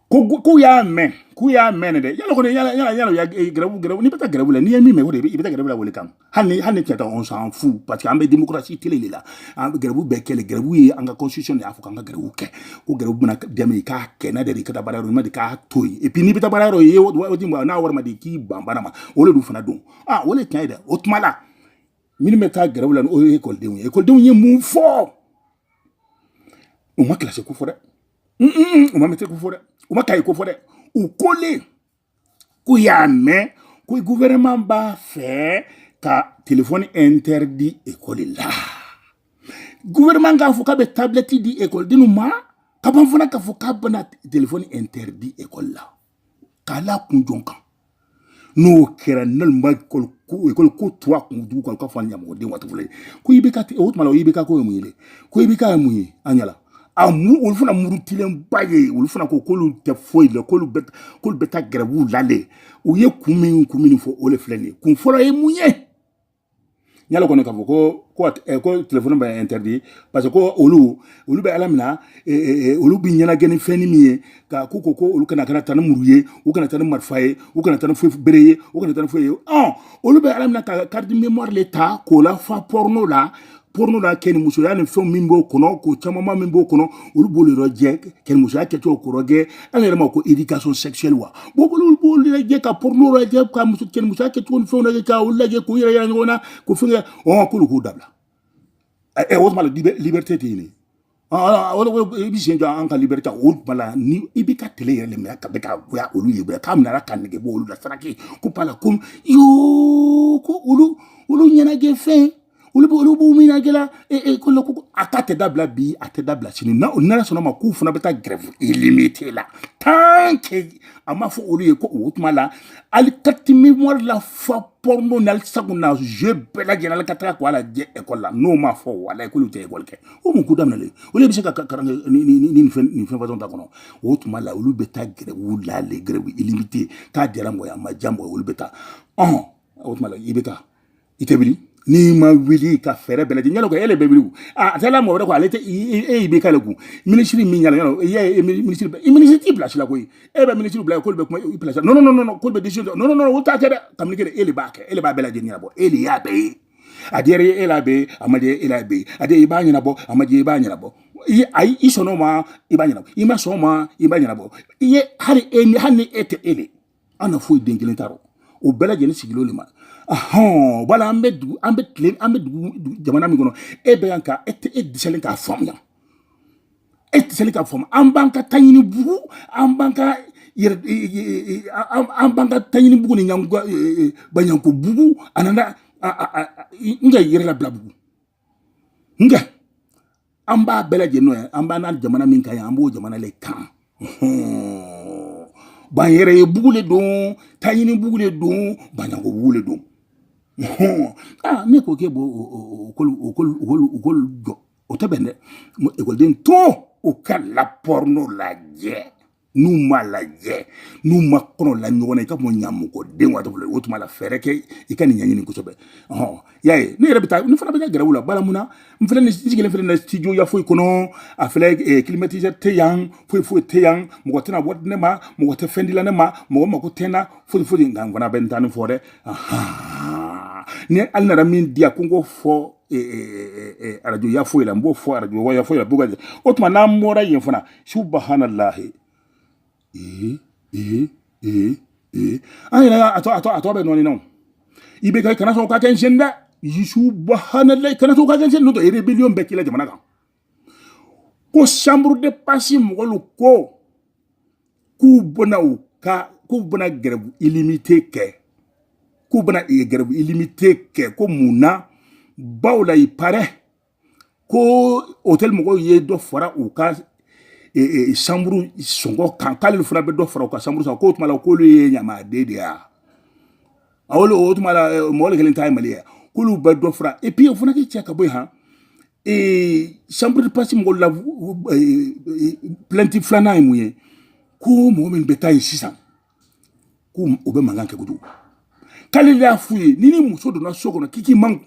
ko k'u y'a mɛn k'u y'a mɛn dɛ yala kɔni yala yala yala ya eh, gɛrɛbu gɛrɛbu n'i bɛ taa gɛrɛbu la n'i ye min mɛn o de i bɛ taa gɛrɛbu la o le kan hali ni hali ni tiɲɛ tɛ on s'en fout parce que an bɛ démocratie tile de la an gɛrɛbu bɛɛ kɛ le gɛrɛbu ye an ka constitution de y'a fɔ k'an ka gɛrɛbu kɛ ko gɛrɛbu bɛna dɛmɛ i k'a kɛ n'a dɛ i ka taa baara yɔrɔ ɲuman de k'a to yen et puis n'i bɛ taa baara yɔrɔ ye waati min n'a wari ma di k'i ban baara ma o de dun fana don ah o de tiɲɛ ye dɛ o tuma la minnu bɛ taa gɛrɛbu la o ye ekɔlidenw ye ekɔlidenw ye mun fɔ u ma kilasi ko fɔ dɛ u ma mɛtiri ko fɔ dɛ u ma kaye ko fɔ dɛ u ko le k'u y'a mɛn ko gouvernement b'a fɛ ka telefɔni interdit ekɔli la gouvernement k'a fɔ k'a bɛ tablɛti di ekɔlidenw ma ka ban fana k'a fɔ k'a bɛna telefɔni interdit ekɔli la k'a la kun jɔn kan n'o kɛra naloma ekɔli ko to a kun dugu kan k'a fɔ a ɲamɔgɔden waati fɔlɔ ye ko IBK o tuma la o IBK ko ye mun ye dɛ ko IBK ye mun ye an ɲɛla a mu olu fana murutilenba ye olu fana ko k'olu tɛ foyi la k'olu bɛ k'olu bɛ taa gɛrɛbu la de u ye kun min kun min fɔ o de filɛ nin ye kun fɔlɔ ye mun ye n y'a lɔn kɔni k'a fɔ ko ko eh, ko telefɔni bɛ interdit parce que ko olu olu bɛ ala mina eh, eh, eh, olu bi ɲɛnagɛ ni fɛn ni min ye ka k'u ko ko olu kana kana taa ni muru ye u kana taa ni marifa ye u kana taa ni foyi bere ye u kana taa ni foyi ye ɔn olu bɛ ala mina ka carte mémoire le ta k'o lafa porno la porno la kɛnimusoya ni fɛnw min b'o kɔnɔ ko camanma min b'o kɔnɔ olu b'olu yɔrɔ jɛ kɛnimusoya kɛcogo kɔrɔ gɛ an yɛrɛ ma ko éducation sexuelle wa bon olu b'olu lajɛ ka porno lajɛ ka muso kɛnimusoya kɛcogo ni fɛnw lajɛ ka olu lajɛ k'u yɛrɛ yira ɲɔgɔn na ko fɛn kɛ ɔn k'olu k'u dabila ɛ o tuma la liberté tɛ yen i bɛ sen jɔ an ka liberté o bala ni i bɛ ka tile yɛrɛ minɛ ka bɛ ka goya olu ye bɛɛ k'a minɛ ka nege bɔ olu la saraki ko bala ko yoo ko olu olu ɲɛnajɛ fɛn olu bɛ olu b'u ɲɛnajɛ la e e ko ko a ta tɛ dabila bi a tɛ dabila sini na o nana sɔn a ma k'u fana bɛ taa grève illimitée la tant que a ma fɔ olu ye ko o tuma la hali carte mémoire lafa porno na sago na jeu bɛɛ lajɛlen ka taga k'o lajɛ ekɔli la n'o ma fɔ wala k'olu tɛ ekɔli kɛ o mun ko daminɛlen olu bɛ se ka karan ni ni ni nin fɛn nin fɛn fasɔn ta kɔnɔ o tuma la olu bɛ taa grève la le grève illimitée k'a diyara mɔgɔ ye a ma diya mɔgɔ ye olu bɛ taa ɔn o tuma la i bɛ taa i tɛ wuli n'i ma wuli ka fɛɛrɛ bɛɛ lajɛlen yala ko e le bɛ wuli a a taala mɔgɔ wɛrɛ ko ale tɛ e y'i bɛ k'ale kun minisiri min yala yala i y'a ye minisiri bɛ i minisiri t'i place la koyi e bɛ minisiri bila k'olu bɛ kuma i place la non non non k'olu bɛ décision ta non non non olu t'a kɛ dɛ kabini kɛ e le b'a kɛ e le b'a bɛɛ lajɛlen ɲɛnabɔ e le y'a bɛɛ ye a diyara e la be a ma diya e la be a diya i b'a ɲɛnabɔ a ma diya i b'a ɲɛnabɔ i ayi i sɔnna o ma i b'a ɲɛnabɔ i ma sɔn o ma i b'a ɲɛnabɔ i ye hali e ni hali ni e tɛ e le an na foyi den kelen t'a rɔ o bɛɛ lajɛlen sigilen de ma ahɔn wala an bɛ dugu an bɛ tile an bɛ dugu jamana min kɔnɔ e bɛ yan ka e tɛ e dɛsɛlen k'a faamuya e dɛsɛlen k'a faamu an b'an ka taɲini bugu an b'an ka yɛrɛ an b'an ka taɲini bugu ni ɲango baɲango bugu a nana n ka yɛrɛ labila bugu nka an b'a bɛɛ lajɛlen ye an b'an n'an jamana min kan ye an b'o jamana le kan ban yɛrɛ ye bugu le don taɲini bugu le don baɲango bugu le don ne ko k'e b'o o kolu jɔ o tɛ bɛn dɛ ekɔliden to u ka la porno lajɛ n'u ma lajɛ n'u ma kɔnɔ la ɲɔgɔn na i ka mɔ ɲamɔgɔden waati bolo o tuma la fɛɛrɛ kɛ i ka nin ɲɛɲini kosɛbɛ ɔhɔn y'a ye ne yɛrɛ bɛ taa ne fana bɛ taa grève la bala mun na n filɛ nin sigilen filɛ nin studio ya foyi kɔnɔ a filɛ eh, climatiseur tɛ yan foyi foyi tɛ yan mɔgɔ tɛna bɔ ne ma mɔgɔ tɛ fɛn dila ne ma mɔgɔ mako tɛ n na foyi foyi nka n fana bɛ n ta nin fɔ dɛ ni hali nana min di yan ko n k'o fɔ e, e, e, arajo ya foyi la n b'o fɔ arajo ya foyi la b'o ka jɛ o tuma n'an bɔra yen fana subahanalahi ee ee ee ee an yɛrɛ y'a a tɔ a tɔ a tɔ bɛ nɔɔni na o i bɛ kɛ kana sɔn o ka kɛ n sen dɛ subahanalahi kana sɔn o ka kɛ n sen n'o tɛ rébellion bɛ k'i la jamana kan ko chambre de passe mɔgɔlu ko k'u bɛna u ka k'u bɛna grève illimité kɛ k'u bɛna grève illimité kɛ ko mun na bawo la il paraît ko hôtel mɔgɔw ye dɔ fara u ka chambre sɔngɔ kan k'ale fana bɛ dɔ fara u ka chambre sɔngɔ k'o tuma la k'olu ye ɲamaden de ye a wolo o tuma la eh, mɔgɔ le kelen ta ye mali ye k'olu bɛ dɔ fara et puis o fana k'i cɛ ka bɔ yen han eh, chambre de passe mɔgɔw la eh, plainte filanan ye mun ye ko mɔgɔ min bɛ taa yen sisan ko o bɛ mankan kɛ kojugu k'ale de y'a f'u ye ni ni muso donna so kɔnɔ k'i k'i man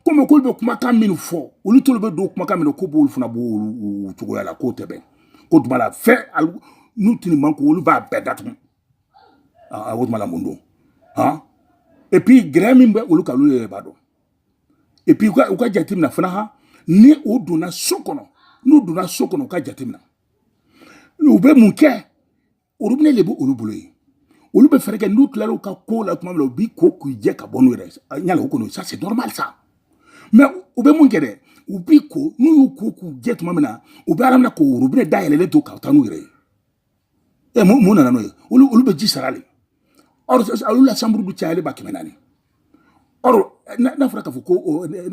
komi k'olu bɛ kumakan min fɔ olu t'olu bɛ don kumakan min na ko b'olu fana b'o cogoya la k'o tɛ bɛn k'o tuma la fɛn n'u tini man ko olu b'a bɛɛ datugu o tuma la mun don han et puis gɛrɛ min bɛ olu kan olu yɛrɛ b'a dɔn et puis u ka u ka jateminɛ fana han ni u donna so kɔnɔ n'u donna so kɔnɔ u ka jateminɛ u bɛ mun kɛ orobinɛ de bɛ olu bolo yen olu bɛ fɛɛrɛ kɛ n'u tilara u ka ko la tuma min na u b'i ko k'u jɛ ka bɔ n'u yɛrɛ ye yala o kɔni ça c'est normal ça mais u bɛ mun kɛ dɛ u b'i ko n'u y'u ko k'u jɛ tuma min na u bɛ ala minɛ k'o orobinɛ dayɛlɛlen to ka taa n'u yɛrɛ ye ɛ mun mun nana n'o ye olu olu bɛ ji sara le or olu la chambre bɛ cayalen ba kɛmɛ naani or n'a fɔra k'a fɔ ko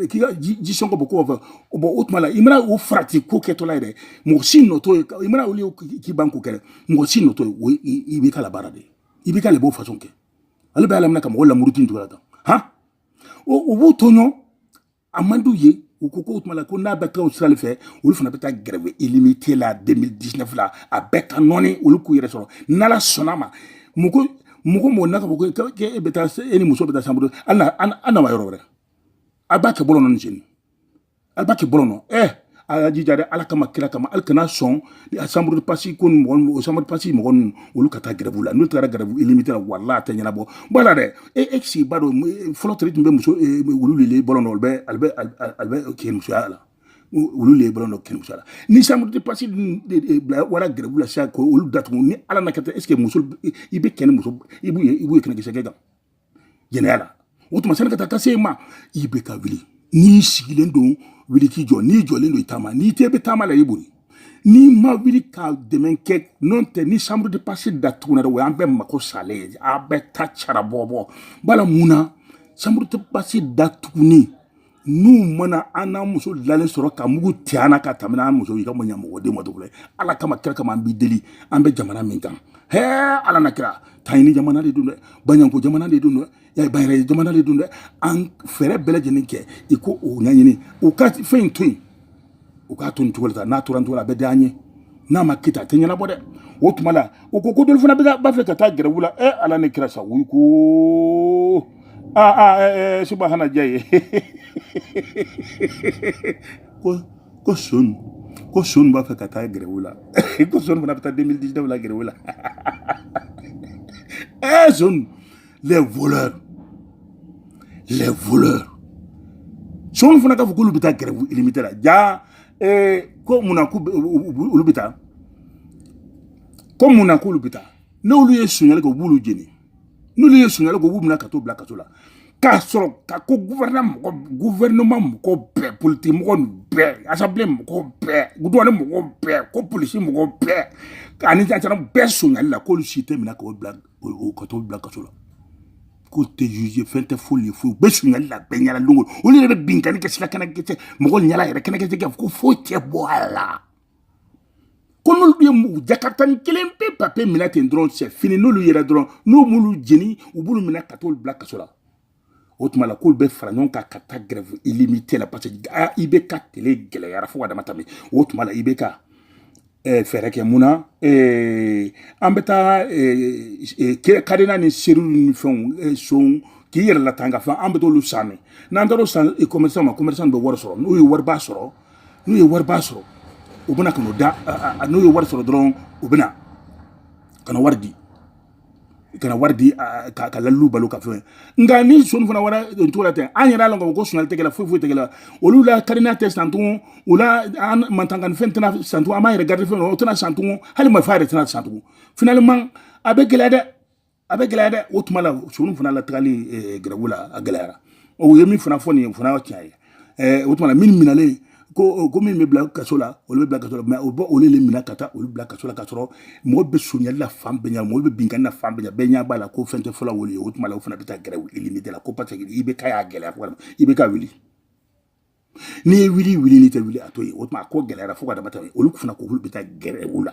k'i ka ji sɔngɔ bɔ ko fɛ bɔn o tuma la i mana o farati ko kɛtɔla ye dɛ mɔgɔ si nɔ t'o ye i mana olu k'i ban ko kɛ mɔgɔ si nɔ t'o ye o i b'i ka la baara de i b'i ka le b'o façon kɛ ale bɛ ala minɛ ka mɔgɔ lamuruti nin cogoya la tan han o b'o tɔɲɔ a man d'u ye u ko k'o tuma la ko n'a bɛ taa o sira de fɛ olu fana bɛ taa grève illimité la 2019 la a bɛɛ ka nɔɔni olu k'u yɛrɛ sɔrɔ n'ala sɔnna ma mɔgɔ mɔgɔ mɔgɔ n'a ka fɔ ko e bɛ taa e ni muso bɛ taa chambre an na wa yɔrɔ wɛrɛ a b'a kɛ bɔlɔn nɔ nin sen in a b'a kɛ bɔlɔn nɔ ɛ a y'a jija dɛ ala kama kira kama alu kana sɔn a chambre de passe ko ni mɔgɔ o chambre de passe mɔgɔ ninnu olu ka taa grève la n'u taara grève illimité la walayi a tɛ ɲɛnabɔ bɔ la dɛ est ce que i b'a dɔn fɔlɔ teri tun bɛ muso wulu lele bɔlɔn na o bɛ ale bɛ ale bɛ kɛ musoya la olu le bɔlɔn dɔ kirimuso la ni chambre de passe wara grève la sisan ko olu datugu ni ala na kɛ est ce que muso i bɛ kɛ ni muso i b'u ye i b'u ye kɛnɛkisɛ kɛ kan jɛnɛya la o tuma sani ka taa ka se ma i bɛ ka wuli n'i sigilen don wuli k'i jɔ n'i jɔlen don i taama n'i tɛ bɛ taama la i boli n'i ma wuli ka dɛmɛ kɛ n'o tɛ ni chambre de passe datugunna dɛ o y'an bɛɛ mako salen ye a bɛɛ ta cara bɔbɔ bala mun na chambre de passe datugunni n'u mana an n'an muso lalen sɔrɔ ka mugu ti an na ka tɛmɛ an muso i ka mɔ ɲamɔgɔden ma dɔgɔlɛ ala kama kira kama an b'i deli an bɛ jamana min kan hɛɛ ala n'a kira taɲini jamana de don dɛ baɲanko jamana de don dɛ y'a bayɛrɛ jamana de don dɛ an fɛɛrɛ bɛɛ lajɛlen kɛ i ko o ɲaɲini o ka fɛn in to yen u k'a to nin cogo la sa n'a tora nin cogo la a bɛ diya an ye n'a ma kita a tɛ ɲɛnabɔ dɛ o tuma la o ko ko dɔlu fana b'a fɛ ka taa grève la ɛ ala ni kira sa o ko aa aa ɛɛ subahana diya ye ko ko sonw ko sonw b'a fɛ ka taa grève la ko sonw fana bɛ taa 2019 la grève la ɛɛ sonw les voleurs les voleurs sonw fana k'a fɔ k'olu bɛ taa grève illimité la ja ko mun na ko olu bɛ taa ko mun na k'olu bɛ taa n'olu ye sonyali kɛ u b'olu jeni n'olu ye sonyali kɛ u b'u minɛ ka t'u bila kaso la k'a sɔrɔ ka ko gouvernement mɔgɔ gouvernement mɔgɔ bɛɛ politiki mɔgɔ nin bɛɛ assemblée mɔgɔ bɛɛ douane mɔgɔ bɛɛ ko polisi mɔgɔ bɛɛ ani gendarme bɛɛ sonyali la k'olu si tɛ minɛ k'o bila o ka t'o bila kaso la k'o tɛ juger fɛn tɛ foyi ye foyi u bɛ sunyali la bɛɛ ɲɛna don o don olu yɛrɛ bɛ binkani kɛ sira kɛnɛ kɛ mɔgɔ ɲɛla yɛrɛ kɛnɛ kɛ ko foyi tɛ bɔ a la ko n'olu ye mɔgɔ jakaritanin kelen pe papiye minɛ ten dɔrɔn c'est fini n'olu yera dɔrɔn n'u m'olu jeni u b'olu minɛ ka t'olu bila kaso la o tuma la k'olu bɛ fara ɲɔgɔn kan ka taa grève illimité la parce que a IBK tele gɛlɛyara fo ka dama tɛmɛ o tuma la IBK eh, fɛɛrɛ kɛ mun na eh, an bɛ taa eh, cadenas ni serrure ni fɛnw san k'i yɛrɛ latanga fɛn an bɛ t'olu san min n'an taara o san commerçant ma commerçant bɛ wari sɔrɔ n'u ye wariba sɔrɔ n'u ye wariba sɔrɔ u bɛna ka n'o da n'u ye wari sɔrɔ dɔrɔn u bɛna ka na wari di ka na wari di k'a la lu balo ka fɛn nka ni sonw fana wara cogo la ten an yɛrɛ y'a lɔn k'a fɔ ko sunyali tɛ kɛla foyi foyi tɛ kɛla olu la cadenas tɛ san tugun o la an matanga fɛn tɛna san tugun an b'an yɛrɛ garder fɛn o tɛna san tugun hali marifa yɛrɛ tɛna san tugun finalement a bɛ gɛlɛya dɛ a bɛ gɛlɛya dɛ o tuma la sonw fana la tagali grève la a gɛlɛyara o ye min fana fɔ nin ye fana tiɲɛ ye ɛɛ o tuma la minnu minɛlen ko ko min bɛ bila kaso la olu bɛ bila kaso la mais o bɛ olu le minɛ ka taa olu bila kaso la ka sɔrɔ mɔgɔ bɛ sonyali la fan bɛɛ ɲɛ mɔgɔ bɛ binkanni na fan bɛɛ ɲɛ bɛɛ ɲɛ b'a la ko fɛn tɛ fɔla olu ye o tuma la o fana bɛ taa grève illimité la ko parce que IBK y'a gɛlɛya walima IBK wuli n'i ye wuli wuli n'i tɛ wuli a to yen o tuma a ko gɛlɛyara fo ka dama tɛmɛ olu fana ko olu bɛ taa grève la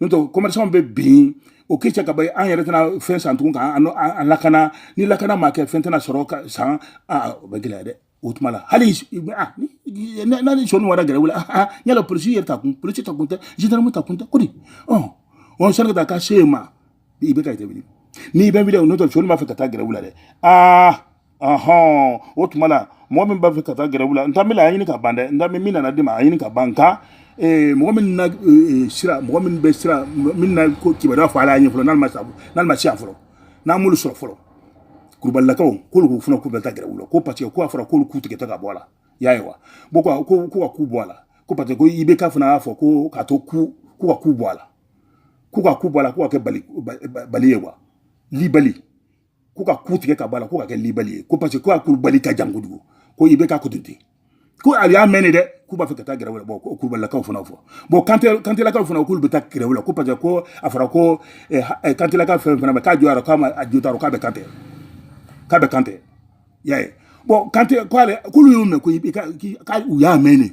n'o tɛ commerçantw bɛ bin o k'i cɛ ka ban an yɛrɛ tɛna fɛn san tugun ka an lakana ni lakana ma kɛ fɛn tɛna sɔrɔ ka san aa o bɛ gɛlɛya dɛ o tuma la hali n'a ni sonw wara grève la aa yala polisi yɛrɛ ta kun polisi ta kun tɛ gendarme ta kun tɛ ko di ɔ ɔ sani ka taa ka se yen ma IBK i tɛ wuli n'i bɛ wuli n'o tɛ sonw b'a fɛ ka taa grève la dɛ aa ɔhɔn o tuma la mɔgɔ min b'a fɛ ka taa gɛrɛwu la n ta mila a ɲini ka ban dɛ n ta min nana di ma a ɲini ka ban nka eh, mɔgɔ min na eh, sira mɔgɔ min bɛ sira min na ko kibaruya fɔ ala y'a ɲɛ fɔlɔ n'ale ma sa n'ale ma se yan fɔlɔ n'an m'olu sɔrɔ fɔlɔ kulubalilakaw k'olu k'u fana k'u bɛ taa gɛrɛwu la ko parce que ko a fɔra k'olu ku tigɛ de ka bɔ a la y'a ye wa bon ko ko ko ka ku bɔ a la ko parce que ko IBK fana y'a fɔ ko k'a to ku ko ka ku bɔ a la ko ka ku bɔ a la ko ka kɛ bali bali ye wa libali ko ka ku tigɛ ka bɔ a la ko ka kɛ libali ye ko parce que ko a kulubali ka jan kojugu ko IBK ko ten ko a y'a mɛn de dɛ k'u b'a fɛ ka taa gɛrɛwu la bon ko kulubalilakaw fana fɔ bon kante kantelakaw fana k'olu bɛ taa gɛrɛwu la ko parce que ko a fɔra ko eh, eh, kantelaka fɛn fana bɛ k'a jɔyɔrɔ k'a ma a jotaro k'a bɛ kante k'a bɛ kante y'a ye bon kante k'ale k'olu y'o mɛn ko k'u y'a mɛn de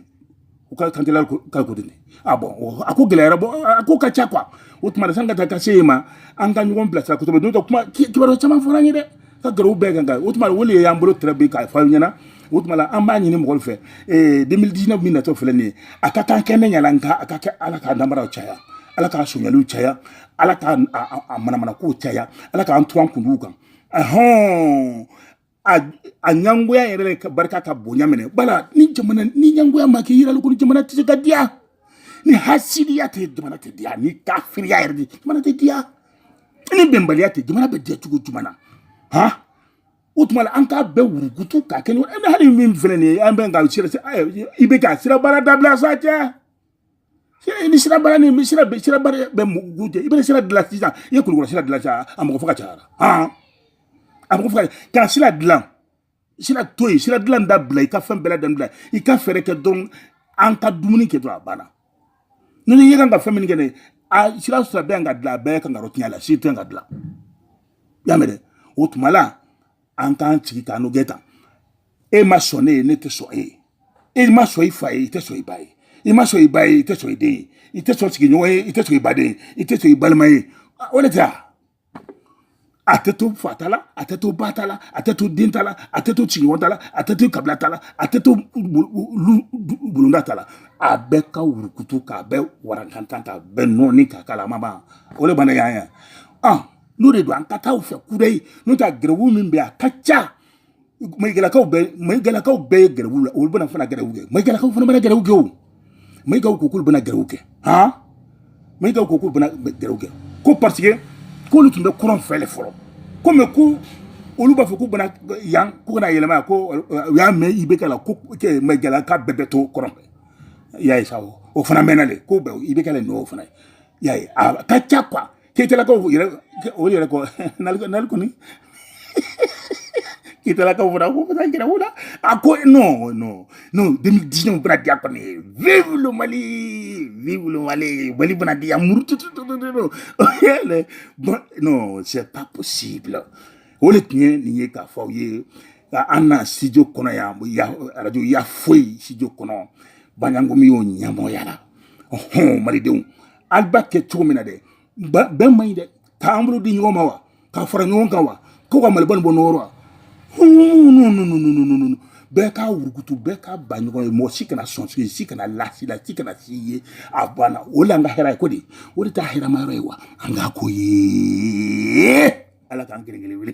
u ka kantigɛla ka ko de a bon a ko gɛlɛyara bon a ko ka ca quoi o tuma na sani ka taa ka se yen ma an ka ɲɔgɔn bilasira kosɛbɛ n'o tɛ kuma kibaruya caman fɔra an ye dɛ ka gɛrɛw bɛɛ kan kan o tuma o de y'an bolo tɛrɛ bi k'a fɔ aw ɲɛna o tuma la an b'a ɲini mɔgɔw fɛ ee 2019 min natɔ filɛ nin ye a ka kan kɛnɛ ɲala nka a ka kɛ ala k'a namaraw caya ala k'a sonyaliw caya ala k'a manamanakow caya ala k'an to an kunduw kan ahɔn a ɲangoya yɛrɛ ka barika ka bonya minɛ bala ni jamana ni ɲangoya ma kɛ yirali ko ni jamana tɛ se ka diya ni hasidiya tɛ jamana tɛ diya ni kafiriya yɛrɛ tɛ jamana tɛ diya ni bɛnbaliya tɛ jamana bɛ diya cogo jumɛn na han o tuma la an k'a bɛɛ wurukutu k'a kɛ ɲɔgɔn hali min filɛ nin ye an bɛ ka sira IBK sira baara dabila sa cɛ ni sira baara ni bɛ sira bɛ sira baara bɛ mun ɲɛ i bɛ sira dilan sisan i ye kulikɔrɔ sira dilan sisan a mɔgɔ faga cayara hɔn a mɔgɔ faga kana sira dilan sira to yen sira dilan dabila i ka fɛn bɛɛ lajɛlen bila i ka fɛɛrɛ kɛ dɔrɔn an ka dumuni kɛ dɔrɔn a banna ni ne ye kan ka fɛn min kɛ ne a sira sira bɛɛ ka dilan a bɛɛ kan ka yɔrɔ tiɲɛ la si tɛ ka dilan i y'a mɛn dɛ o tuma la an k'an sigi ka ɲɔgɔn tan e ma sɔn ne ye ne tɛ sɔn e ye e ma sɔn i fa ye i tɛ sɔn i ba ye i ma sɔn i ba ye i tɛ sɔn i den ye i tɛ sɔn sigiɲɔgɔn ye i tɛ sɔn i baden ye i tɛ sɔn i balima ye o de tɛ a a tɛ to fa ta la a tɛ to ba ta la a tɛ to den ta la a tɛ to sigiɲɔgɔn ta la a tɛ to kabila ta la a tɛ to bulonda ta la a bɛɛ ka wurukutu k'a bɛɛ warankantan k'a bɛɛ nɔɔni k'a k'a la a ma ban o de bana y'an ye n'o de don an ka taa o fɛ kudayi n'o tɛ gɛrɛwu min bɛ yen a ka ca mayigalakaw bɛɛ mayigalakaw bɛɛ ye gɛrɛwu la olu bɛna fana gɛrɛwu kɛ mayigalakaw fana bɛna gɛrɛwu kɛ o mayigaw ko k'olu bɛna gɛrɛwu kɛ han mayigaw ko k'olu bɛna gɛrɛwu kɛ ko parce que k'olu tun bɛ kɔrɔn fɛ de fɔlɔ ko mais ko olu b'a fɔ k'u bɛ na yan k'u kana yɛlɛma yan ko u y'a mɛn IBK la ko mayigalaka bɛɛ bɛ to kɔrɔn fɛ i y'a ye sa o fana mɛnna de ko bɛɛ IBK la nin o fana ye i y'a ye a ka ca quoi keyitɛlakaw yɛrɛ o yɛrɛ kɔ nali kɔni keyitɛlakaw fana ko fana gɛrɛwu la a ko non non non deux mille dix neuf bɛna diya kɔni vive le mali vive le mali mali bɛna diya muru tututututu non c'est pas possible o de tun ye nin ye k'a fɔ aw ye an na studio kɔnɔ yan arajo ya foyi studio kɔnɔ banyangomi y'o ɲɛmɔgɔya la ɔhɔn malidenw ali b'a kɛ cogo min na dɛ bɛn man ɲi dɛ k'an bolo di ɲɔgɔn ma wa ka fara ɲɔgɔn kan wa ko ka maliba nin bɔ nɔgɔ rɔ wa bɛɛ k'a wurukutu bɛɛ k'a ba ɲɔgɔn ye mɔgɔ si kana sɔn si si kana lasi la si kana si ye a banna o la an ka hɛrɛ ye ko de o de t'a hɛrɛma yɔrɔ ye wa an k'a ko ye ala k'an kelen kelen wele